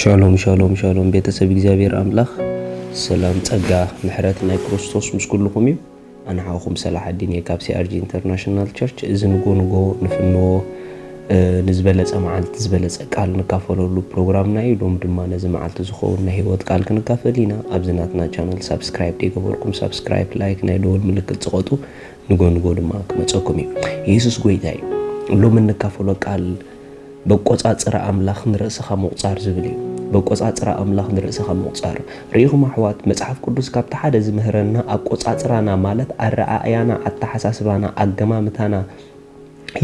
ሻሎም ሻሎም ሻሎም ቤተሰብ እግዚኣብሔር ኣምላኽ ሰላም ጸጋ ምሕረት ናይ ክርስቶስ ምስ ኩልኹም እዩ ኣንሓኹም ሰላሓዲን እየ ካብ ሲኣርጂ ኢንተርናሽናል ቸርች እዚ ንጎ ንጎ ንፍንዎ ንዝበለጸ መዓልቲ ዝበለጸ ቃል ንካፈለሉ ፕሮግራምና እዩ ሎም ድማ ነዚ መዓልቲ ዝኸውን ናይ ህይወት ቃል ክንካፈል ኢና ኣብዚ ናትና ቻነል ሳብስክራይብ ደይገበርኩም ሳብስክራይብ ላይክ ናይ ደወል ምልክት ዝቐጡ ንጎንጎ ድማ ክመፀኩም እዩ የሱስ ጎይታ እዩ ሎም እንካፈሎ ቃል በቆጻጽራ ኣምላኽ ንርእስኻ ምቑጻር ዝብል እዩ። በቆጻጽራ ኣምላኽ ንርእስኻ ምቑጻር። ርኢኹም ኣሕዋት፣ መጽሓፍ ቅዱስ ካብቲ ሓደ ዝምህረና ኣቆጻጽራና ማለት ኣረኣእያና፣ ኣተሓሳስባና፣ ኣገማምታና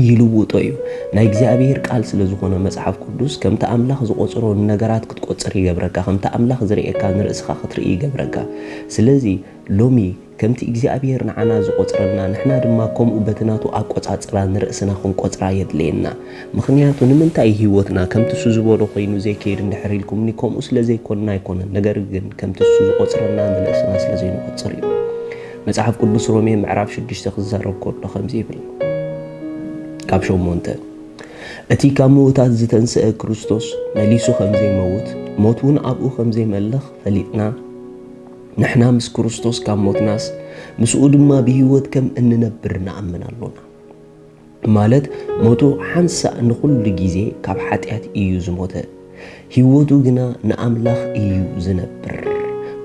ይልውጦ እዩ። ናይ እግዚኣብሄር ቃል ስለ ዝኾነ መጽሓፍ ቅዱስ ከምቲ ኣምላኽ ዝቆጽሮ ንነገራት ክትቆጽር ይገብረካ፣ ከምቲ ኣምላኽ ዝርእየካ ንርእስኻ ክትርኢ ይገብረካ። ስለዚ ሎሚ ከምቲ እግዚኣብሄር ንዓና ዝቆጽረልና ንሕና ድማ ከምኡ በቲ ናቱ ኣቆጻጽራ ንርእስና ክንቆጽራ የድልየና። ምኽንያቱ ንምንታይ እዩ ህይወትና ከምቲ እሱ ዝበሎ ኮይኑ ዘይከይድ እንድሕር ኢልኩምኒ ከምኡ ስለ ዘይኮንና ኣይኮነን ነገር ግን ከምቲ እሱ ዝቆጽረልና ንርእስና ስለ ዘይንቆጽር እዩ። መጽሓፍ ቅዱስ ሮሜ ምዕራፍ ሽዱሽተ ክዛረብ ከሎ ከምዚ ይብል ካብ ሸሞንተ እቲ ካብ ምዉታት ዝተንስአ ክርስቶስ መሊሱ ከም ዘይመውት ሞት እውን ኣብኡ ከም ዘይመልኽ ፈሊጥና ንሕና ምስ ክርስቶስ ካብ ሞትናስ ምስኡ ድማ ብህይወት ከም እንነብር ንኣምን ኣሎና። ማለት ሞቱ ሓንሳእ ንኹሉ ግዜ ካብ ሓጢኣት እዩ ዝሞተ፣ ህይወቱ ግና ንኣምላኽ እዩ ዝነብር።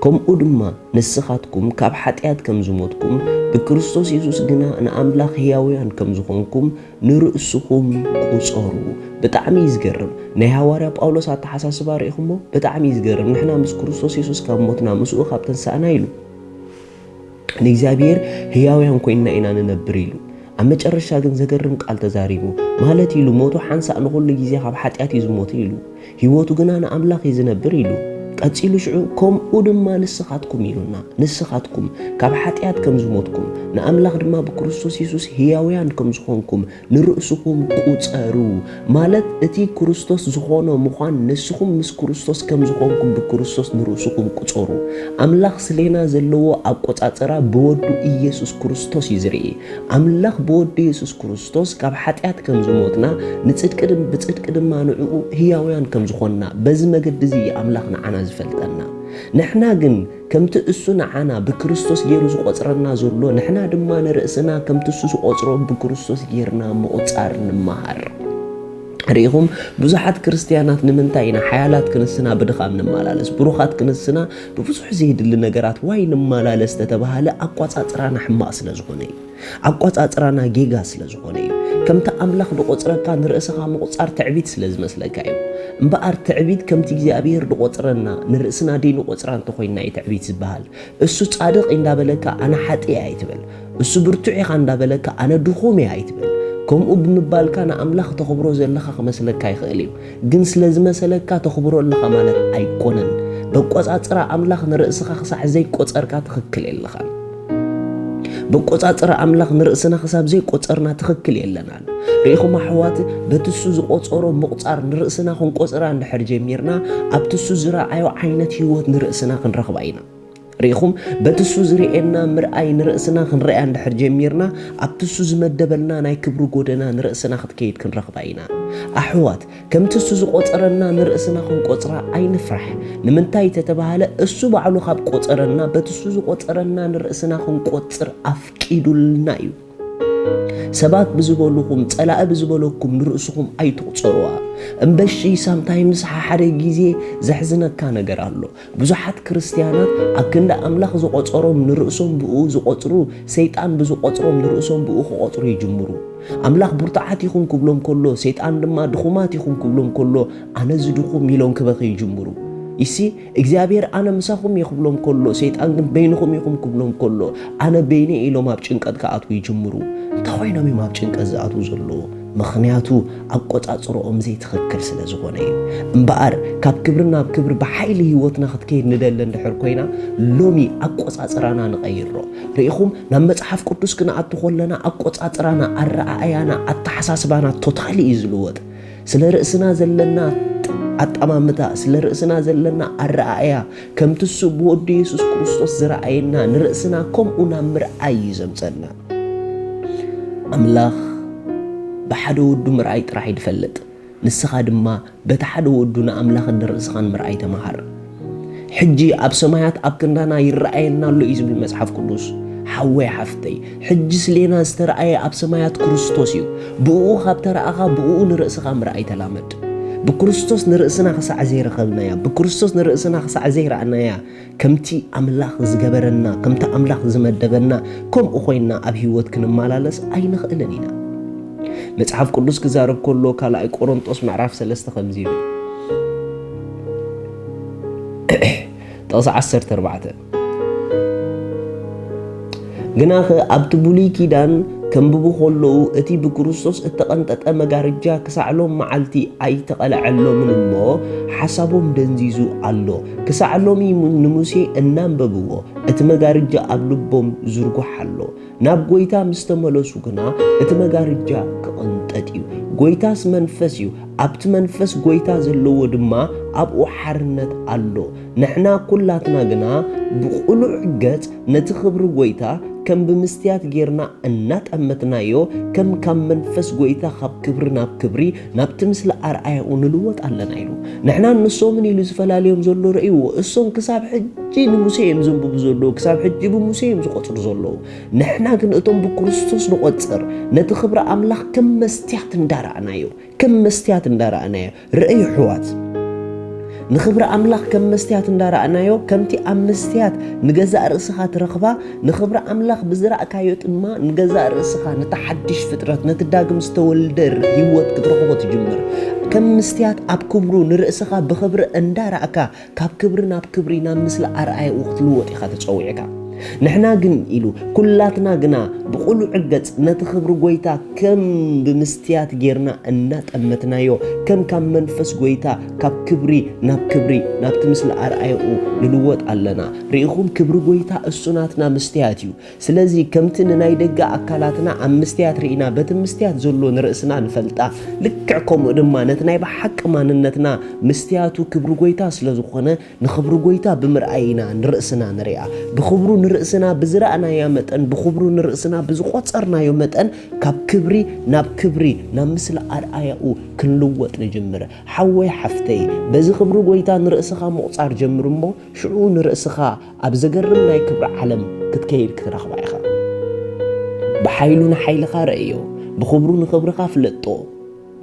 ከምኡ ድማ ንስኻትኩም ካብ ሓጢኣት ከም ዝሞትኩም፣ ብክርስቶስ የሱስ ግና ንኣምላኽ ህያውያን ከም ዝኾንኩም ንርእስኹም ቁጸሩ ብጣዕሚ እዩ ዝገርም ናይ ሃዋርያ ጳውሎስ ኣተሓሳስባ ርኢኹሞ ብጣዕሚ እዩ ዝገርም ንሕና ምስ ክርስቶስ የሱስ ካብ ሞትና ምስኡ ካብ ተንሳእና ኢሉ ንእግዚኣብሔር ህያውያን ኮይንና ኢና ንነብር ኢሉ ኣብ መጨረሻ ግን ዘገርም ቃል ተዛሪቡ ማለት ኢሉ ሞቱ ሓንሳእ ንኹሉ ግዜ ካብ ሓጢኣት እዩ ዝሞተ ኢሉ ህይወቱ ግና ንኣምላኽ እዩ ዝነብር ኢሉ። ቀጺሉ ሽዑ ከምኡ ድማ ንስኻትኩም ኢሉና፣ ንስኻትኩም ካብ ሓጢኣት ከም ዝሞትኩም፣ ንኣምላኽ ድማ ብክርስቶስ የሱስ ህያውያን ከም ዝኾንኩም ንርእስኹም ቁጸሩ፣ ማለት እቲ ክርስቶስ ዝኾኖ ምዃን ንስኹም ምስ ክርስቶስ ከም ዝኾንኩም ብክርስቶስ ንርእስኹም ቁጸሩ። ኣምላኽ ስሌና ዘለዎ ኣቆጻጽራ ብወዱ ኢየሱስ ክርስቶስ እዩ ዝርኢ። ኣምላኽ ብወዱ የሱስ ክርስቶስ ክርስቶስ ካብ ሓጢኣት ከም ዝሞትና፣ ንጽድቂ ድም ብጽድቂ ድማ ንዕኡ ህያውያን ከም ዝኾንና፣ በዚ መገዲ እዚ እዩ ኣምላኽ ንዓና ዝፈልጠና። ንሕና ግን ከምቲ እሱ ንዓና ብክርስቶስ ገይሩ ዝቆጽረና ዘሎ፣ ንሕና ድማ ንርእስና ከምቲ እሱ ዝቆጽሮ ብክርስቶስ ገይርና ምቁጻር ንመሃር። ርኢኹም፣ ብዙሓት ክርስትያናት ንምንታይ ኢና ሓያላት ክንስና ብድኻም ንመላለስ፣ ብሩኻት ክንስና ብብዙሕ ዘየድሊ ነገራት ዋይ ንመላለስ ተተባህለ ኣቋጻጽራና ሕማቕ ስለ ዝኾነ እዩ። ኣቆጻጽራና ጌጋ ስለ ዝኾነ እዩ። ከምቲ ኣምላኽ ድቆጽረካ ንርእስኻ ምቁጻር ትዕቢት ስለ ዝመስለካ እዩ። እምበኣር ትዕቢት ከምቲ እግዚኣብሄር ድቆጽረና ንርእስና ደይንቆጽራ እንተኾይንና እዩ ትዕቢት ዝበሃል። እሱ ጻድቕ ኢንዳበለካ ኣነ ሓጥእ እየ ኣይትበል። እሱ ብርቱዕ ኢኻ እንዳበለካ ኣነ ድኹም እየ ኣይትበል። ከምኡ ብምባልካ ንኣምላኽ ተኽብሮ ዘለኻ ክመስለካ ይኽእል እዩ። ግን ስለ ዝመሰለካ ተኽብሮ ኣለኻ ማለት ኣይኮነን። በቆጻጽራ ኣምላኽ ንርእስኻ ክሳዕ ዘይቆጸርካ ትኽክል የለኻን። በቆጻጽራ ኣምላኽ ንርእስና ክሳብ ዘይቆጸርና ትኽክል የለናን። ርኢኹም ኣሕዋት፣ በቲ እሱ ዝቆጸሮ ምቑጻር ንርእስና ክንቆጽራ እንድሕር ጀሚርና፣ ኣብቲ እሱ ዝረኣዮ ዓይነት ህይወት ንርእስና ክንረኽባ ኢና። ርኢኹም፣ በቲ እሱ ዝርእየና ምርኣይ ንርእስና ክንርእያ እንድሕር ጀሚርና፣ ኣብቲ እሱ ዝመደበልና ናይ ክብሪ ጎደና ንርእስና ክትከይድ ክንረኽባ ኢና። ኣሕዋት! ከምቲ እሱ ዝቆጸረና ንርእስና ክንቆጽራ ኣይንፍራሕ ንምንታይ ተተባህለ እሱ ባዕሉ ካብ ቆጸረና በቲ እሱ ዝቆጸረና ንርእስና ክንቆጽር ኣፍቂዱልና እዩ ሰባት ብዝበሉኹም ጸላኢ ብዝበለኩም ንርእስኹም ኣይትቑጸሩዋ እምበሺ ሳምታይምስ ሓደ ግዜ ዘሕዝነካ ነገር ኣሎ ብዙሓት ክርስትያናት ኣብ ክንዲ ኣምላኽ ዝቖጸሮም ንርእሶም ብእኡ ዝቖጽሩ፣ ሰይጣን ብዝቖጽሮም ንርእሶም ብእኡ ክቖጽሩ ይጅምሩ። ኣምላኽ ብርቱዓት ኢኹም ክብሎም ከሎ፣ ሰይጣን ድማ ድኹማት ኢኹም ክብሎም ከሎ፣ ኣነ'ዚ ድኹም ኢሎም ክበኽዩ ይጅምሩ። ይሲ እግዚኣብሔር ኣነ ምሳኹም እየ ክብሎም ከሎ፣ ሰይጣን ግን በይንኹም ኢኹም ክብሎም ከሎ፣ ኣነ በይነይ ኢሎም ኣብ ጭንቀት ክኣትዉ ይጅምሩ። እንታይ ኮይኖም እዮም ኣብ ጭንቀት ዝኣትዉ ዘለዉ? ምኽንያቱ ኣቆጻጽርኦም ዘይትኽክል ስለ ዝኾነ እዩ። እምበኣር ካብ ክብሪ ናብ ክብሪ ብሓይሊ ህይወትና ክትከይድ ንደሊ እንድሕር ኮይና ሎሚ ኣቆጻጽራና ንቐይሮ። ርኢኹም ናብ መጽሓፍ ቅዱስ ክንኣቱ ከለና ኣቆጻጽራና፣ ኣረኣእያና፣ ኣተሓሳስባና ቶታሊ እዩ ዝልወጥ። ስለ ርእስና ዘለና ኣጠማምታ፣ ስለ ርእስና ዘለና ኣረኣእያ ከምቲ እሱ ብወዱ የሱስ ክርስቶስ ዝረኣየና ንርእስና ከምኡ ናብ ምርኣይ እዩ ዘምጸና። ኣምላኽ ብሓደ ወዱ ምርኣይ ጥራሕ እዩ ዝፈልጥ፣ ንስኻ ድማ በቲ ሓደ ወዱ ንኣምላኽን ንርእስኻን ምርኣይ ተመሃር። ሕጂ ኣብ ሰማያት ኣብ ክንዳና ይረኣየና ኣሎ እዩ ዝብል መጽሓፍ ቅዱስ። ሓወይ ሓፍተይ፣ ሕጂ ስሌና ዝተረኣየ ኣብ ሰማያት ክርስቶስ እዩ። ብእኡ ካብ ተረኣኻ ብእኡ ንርእስኻ ምርኣይ ተላመድ። ብክርስቶስ ንርእስና ክሳዕ ዘይረኸብናያ፣ ብክርስቶስ ንርእስና ክሳዕ ዘይረኣናያ፣ ከምቲ ኣምላኽ ዝገበረና፣ ከምቲ ኣምላኽ ዝመደበና፣ ከምኡ ዀይንና ኣብ ህይወት ክንመላለስ ኣይንኽእልን ኢና። መጽሓፍ ቅዱስ ክዛረብ ከሎ ካልኣይ ቆሮንጦስ ምዕራፍ ሰለስተ ከምዚ ይብል ጥቕሲ ዓሰርተ ኣርባዕተ ግናኸ ኣብቲ ብሉይ ኪዳን ከንብቡ ከለዉ እቲ ብክርስቶስ እተቐንጠጠ መጋርጃ ክሳዕ ሎም መዓልቲ ኣይተቐልዐሎምን እሞ ሓሳቦም ደንዚዙ ኣሎ። ክሳዕ ሎሚ ንሙሴ እናንበብዎ እቲ መጋርጃ ኣብ ልቦም ዝርጉሕ ኣሎ። ናብ ጐይታ ምስ ተመለሱ ግና እቲ መጋርጃ ክቕንጠጥ እዩ። ጐይታስ መንፈስ እዩ፣ ኣብቲ መንፈስ ጐይታ ዘለዎ ድማ ኣብኡ ሓርነት ኣሎ። ንሕና ኩላትና ግና ብቕሉዕ ገጽ ነቲ ክብሪ ጐይታ ከም ብምስትያት ጌርና እናጠመትናዮ ከም ካብ መንፈስ ጐይታ ኻብ ክብሪ ናብ ክብሪ ናብቲ ምስሊ ኣርኣያኡ ንልወጥ ኣለና ኢሉ። ንሕናን ንሶምን ኢሉ ዝፈላልዮም ዘሎ ርእይዎ። እሶም ክሳብ ሕጂ ንሙሴ እዮም ዘንብቡ ዘለዉ፣ ክሳብ ሕጂ ብሙሴ እዮም ዝቖጽሩ ዘለዉ። ንሕና ግን እቶም ብክርስቶስ ንቖጽር ነቲ ክብሪ ኣምላኽ ከም መስትያት እንዳረኣናዮ ከም መስትያት እንዳረኣናዮ ርእይ የሕዋት ንኽብሪ ኣምላኽ ከም መስትያት እንዳረኣናዮ ከምቲ ኣብ መስትያት ንገዛእ ርእስኻ ትረኽባ ንኽብሪ ኣምላኽ ብዝረእካዮ ድማ ንገዛእ ርእስኻ ነቲ ሓድሽ ፍጥረት ነቲ ዳግም ዝተወልደ ህይወት ክትረኽቦ ትጅምር ከም መስትያት ኣብ ክብሩ ንርእስኻ ብኽብሪ እንዳረእካ ካብ ክብሪ ናብ ክብሪ ናብ ምስሊ ኣርኣያኡ ክትልወጥ ኢኻ ተጸዊዕካ። ንሕና ግን ኢሉ ኩላትና ግና ብቕሉዕ ገጽ ነቲ ክብሪ ጎይታ ከም ብምስትያት ጌርና እናጠመትናዮ ከም ካብ መንፈስ ጎይታ ካብ ክብሪ ናብ ክብሪ ናብቲ ምስሊ ኣርኣያኡ ንልወጥ ኣለና። ርኢኹም ክብሪ ጎይታ እሱ ናትና መስትያት እዩ። ስለዚ ከምቲ ንናይ ደገ ኣካላትና ኣብ ምስትያት ርኢና በቲ ምስትያት ዘሎ ንርእስና ንፈልጣ ልክዕ ከምኡ ድማ ነቲ ናይ ብሓቂ ማንነትና ምስትያቱ ክብሪ ጎይታ ስለ ዝኾነ ንክብሪ ጎይታ ብምርኣይ ኢና ንርእስና ንርኣ ብክብሩ ንርእስና ብዝረኣናያ መጠን ብክብሩ ንርእስና ብዝቆጸርናዮ መጠን ካብ ክብሪ ናብ ክብሪ ናብ ምስሊ ኣርኣያኡ ክንልወጥ ንጅምር ሓወይ ሓፍተይ በዚ ክብሪ ጎይታ ንርእስኻ ምቑጻር ጀምር እሞ ሽዑ ንርእስኻ ኣብ ዘገርም ናይ ክብሪ ዓለም ክትከይድ ክትረኽባ ኢኻ። ብሓይሉ ንሓይልኻ ረእዮ፣ ብኽብሩ ንኽብርኻ ፍለጦ፣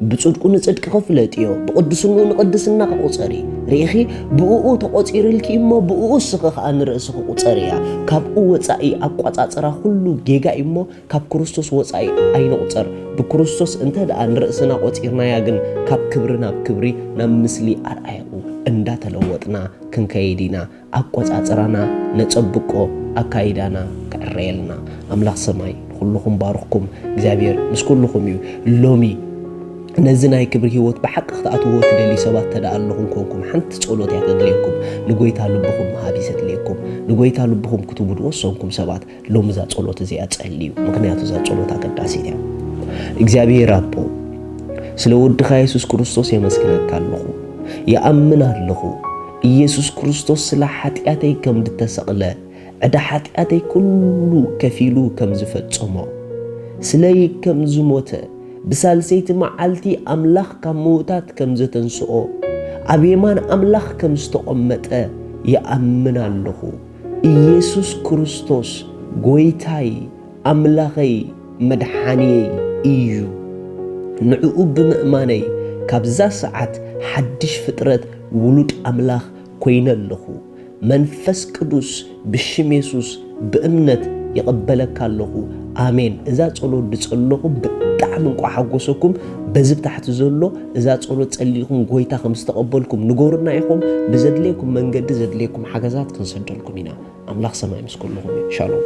ብጽድቁ ንጽድቅኺ ፍለጥዮ፣ ብቕድስንኡ ንቕድስናኺ ቁጸሪ። ርኢኺ? ብእኡ ተቖጺርልኪ እሞ ብእኡ እስኺ ኸኣ ንርእስኺ ቁጸርያ። ካብኡ ወጻኢ ኣቋጻጽራ ኩሉ ጌጋ እዩ እሞ ካብ ክርስቶስ ወጻኢ ኣይንቑጸር። ብክርስቶስ እንተ ደኣ ንርእስና ቆጺርናያ ግን ካብ ክብሪ ናብ ክብሪ ናብ ምስሊ ኣርኣያኡ እንዳተለወጥና ክንከይድ ኢና። ኣቆጻጽራና ነጸብቆ ኣካይዳና ክዕረየልና ኣምላኽ ሰማይ ንኹሉኹም ባርኽኩም እግዚኣብሔር ምስ ኩሉኹም እዩ ሎሚ ነዚ ናይ ክብሪ ህይወት ብሓቂ ክትኣትዎ ትደልዩ ሰባት ተደኣ ኣለኹም ኮንኩም ሓንቲ ጸሎት እያ ተድልየኩም ንጎይታ ልብኹም ምሃብ እዩ ዘድልየኩም ንጎይታ ልብኹም ክትቡ ዝወሰንኩም ሰባት ሎሚ እዛ ጸሎት እዚኣ ጸልዩ፣ ምክንያቱ እዛ ጸሎት ኣገዳሲት እያ። እግዚኣብሔር ኣቦ ስለ ወድኻ የሱስ ክርስቶስ የመስግነካ ኣለኹ፣ ይኣምን ኣለኹ ኢየሱስ ክርስቶስ ስለ ሓጢኣተይ ከም ዝተሰቕለ ዕዳ ሓጢኣተይ ኩሉ ከፊሉ ከም ዝፈጸሞ ስለይ ከም ዝሞተ ብሳልሰይቲ መዓልቲ ኣምላኽ ካብ ምውታት ከም ዘተንስኦ ኣብ የማን ኣምላኽ ከም ዝተቖመጠ ይኣምን ኣለኹ። ኢየሱስ ክርስቶስ ጎይታይ ኣምላኸይ መድሓንየይ ኢዩ ንዕኡ ብምእማነይ ካብዛ ሰዓት ሓድሽ ፍጥረት ውሉድ ኣምላኽ ኮይነ ኣለኹ መንፈስ ቅዱስ ብሽም የሱስ ብእምነት ይቕበለካ ኣለኹ ኣሜን እዛ ጸሎት ድጸለኹም ብጣዕሚ እንቋዕ ሓጎሰኩም በዚ ብታሕቲ ዘሎ እዛ ጸሎት ጸሊኹም ጎይታ ከም ዝተቐበልኩም ንገሩና ኢኹም ብዘድልየኩም መንገዲ ዘድልየኩም ሓገዛት ክንሰደልኩም ኢና ኣምላኽ ሰማይ ምስ ኩልኹም ሻሎም